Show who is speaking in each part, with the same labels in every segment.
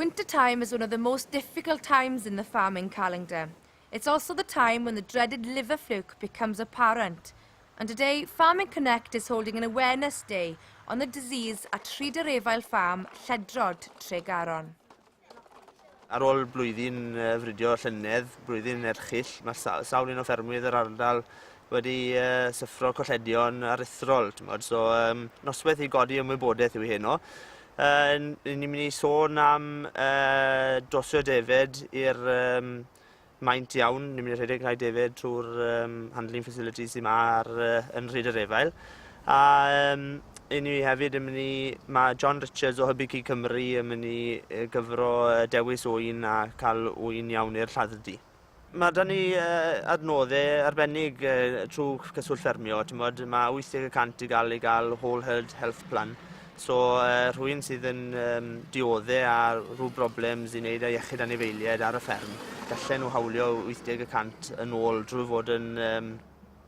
Speaker 1: Winter time is one of the most difficult times in the farming calendar. It's also the time when the dreaded liver fluke becomes apparent. And today, Farming Connect is holding an awareness day on the disease at Rhyder Efail Farm, Lledrod, Tregaron.
Speaker 2: Ar ôl blwyddyn uh, fridio llynedd, blwyddyn erchill, mae'r sa sawl un o ffermwydd yr ardal wedi uh, syffro colledion aruthrol. So, um, noswaith i godi ymwybodaeth yw heno. Yn ni'n mynd i sôn am uh, dosio David i'r um, maint iawn. Ni'n mynd i rhedeg rhai David trwy'r um, handling facilities sy'n ma ar, uh, yn rhyd yr efail. A um, i ni hefyd yn mynd i... Mae John Richards o Hybu Cig Cymru yn mynd i gyfro dewis wy'n a cael wy'n iawn i'r lladd-dy. Mae 'da ni adnoddau arbennig trwy Cyswllt Ffermio. Mod, mae 80 y cant i gael ei gael Whole Herd Health Plan. So, rhywun sydd yn um, dioddau a rhyw broblems i wneud â iechyd anifeiliaid ar y fferm, gallen nhw hawlio 80 y cant yn ôl drwy fod yn um,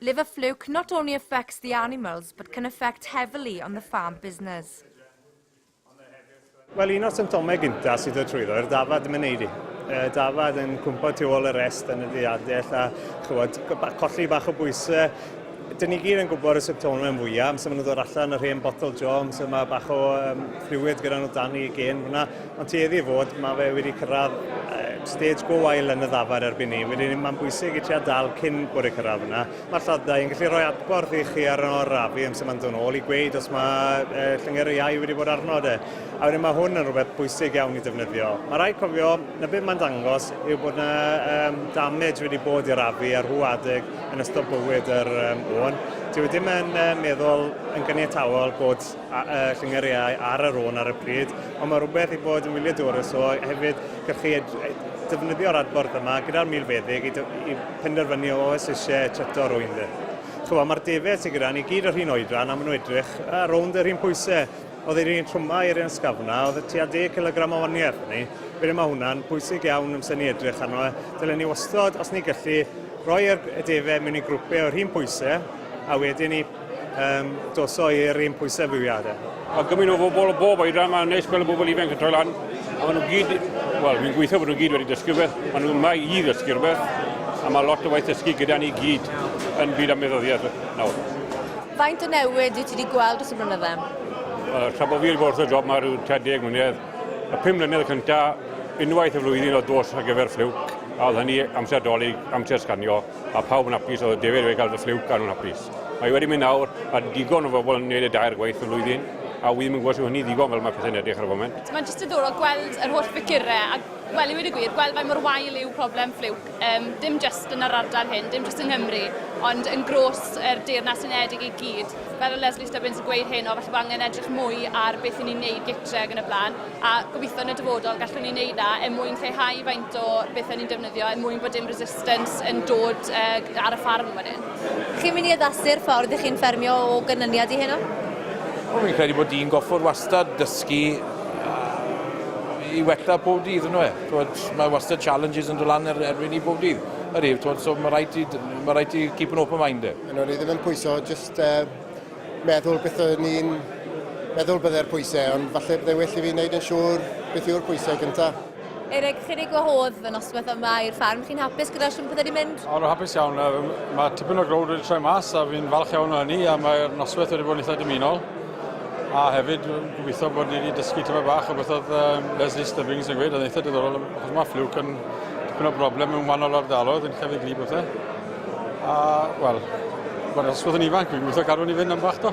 Speaker 1: Liver fluke not only affects the animals but can affect heavily on the farm business.
Speaker 3: Wel, un o'r symptomau gyntaf sydd o trwyddo yw'r dafad yn myneidu. Y dafad yn cwmpo tu ôl y rest yn y ddiadell a chywod, colli bach o bwysau. Dyn ni gyd yn gwybod y symptomau fwyaf, amser maen nhw'n dod allan yr hen botol jo, amser mae bach o um, fluid gyda nhw dan i gen hwnna. Mae'n tueddu i fod, mae fe wedi cyrraedd stage go wael yn y ddafar erbyn ni. Wedyn mae'n bwysig i tua dal cyn bod y cyrraedd yna. Mae'r lladdau yn gallu rhoi adborth i chi ar o'r rafu amser mae'n dod nôl i gweud os mae uh, llyngyr iau wedi bod arno de. A wedyn mae hwn yn rhywbeth bwysig iawn i defnyddio. Mae rhaid cofio na beth mae'n dangos yw bod yna um, damage wedi bod i'r rafu ar hw adeg yn ystod bywyd yr um, ŵn. Dwi ddim yn uh, meddwl yn gyniatawol bod a y llungeriau ar yr ôn ar y pryd, ond mae rhywbeth i fod yn wyliadwrus o hefyd gallu defnyddio'r adborth yma gyda'r milfeddyg i, i penderfynu o oes eisiau treto rwy'n dde. Chwa, mae'r defaid sydd gyda ni gyd yr un oedran a maen nhw edrych a rownd yr un pwysau. Oedd yr un trwmau i'r un sgafna, oedd y tua 10 kilogram o waniau arno ni. Felly mae hwnna'n bwysig iawn amser ni edrych arno e. Dylen ni wastod, os ni gallu, roi y defaid mewn i grwpau o'r un pwysau a wedyn ni Um, dos o'i er ein pwysefiadau. Mae gymaint o bobl
Speaker 4: o bob oedran, mae'n neis gweld y bobl ifanc yn troi lan. A maen nhw gyd, wel, fi'n gweithio bod nhw gyd wedi dysgu beth, maen nhw yma i ddysgu rhywbeth, a mae lot o waith dysgu gyda ni gyd yn byd am meddyddiaeth nawr. Faint o
Speaker 1: newid wyt ti wedi gweld dros y blynydde? Uh, tra bod
Speaker 4: fi wedi bod wrth y job mae rhyw 30 mlynedd, y 5 mlynedd cyntaf, unwaith y flwyddyn o dos ar gyfer ffliwc, a oedd hynny amser dolyg, amser sganio, Mae pawb yn hapus, oedd David wedi cael The Fluke a nhw'n hapus. Mae wedi mynd nawr, mae digon o bobl yn gwneud y dair gwaith y flwyddyn, a wi ddim yn gwybod sy'n hynny ddigon fel mae pethau'n edrych ar y foment. Mae'n jyst diddorol gweld yr
Speaker 5: holl figurau, a wel i wedi gwir, gweld faint mor wael yw problem Fluke, um, dim jyst yn yr ardal hyn, dim jyst yng Nghymru, ond yn gros yr Deyrnas Unedig i gyd. Fel o Leslie Stubbins yn gweud hyn, o falle bod angen edrych mwy ar beth i ni'n neud gytre ac yn y blaen. a gobeithio yn y dyfodol gallwn ni wneud na er mwyn lleihau faint o bethau ni'n defnyddio er mwyn bod dim resistance yn dod uh, ar y ffarm fan hyn. Chi'n mynd i addasu'r
Speaker 1: ffordd ych chi'n ffermio o ganlyniad i heno? Wel, fi'n credu
Speaker 6: bod di'n goffod wastad dysgu i wella pob dydd yn nhw. Mae wastad challenges yn dod lan er, erbyn ni pob dydd. Yr ef, so mae rhaid i, mae rhaid i keep an open mind. Yn o'r ddim yn pwyso,
Speaker 7: just uh, meddwl beth o'n i'n meddwl bydde'r pwysau, ond falle bydde well i fi wneud yn siŵr beth yw'r pwysau gyntaf. Eric, chi'n ei
Speaker 1: gwahodd fy noswaith yma i'r ffarm. Chi'n hapus gyda'r siwm pethau wedi mynd? O, rwy'n hapus iawn.
Speaker 4: Mae tipyn o growd wedi troi mas a fi'n falch iawn o hynny a mae'r noswaith wedi bod yn eitha dymunol. A hefyd, gobeithio bod ni wedi dysgu tyfa bach o beth oedd um, Leslie Stubbings yn gweud, oedd eitha diddorol, achos mae fflwc yn tipyn o broblem mewn wahanol ardaloedd yn llefydd glir bethau. A, wel, mae'r ysgol yn ifanc, fi'n gweithio garwn i fynd am bach do.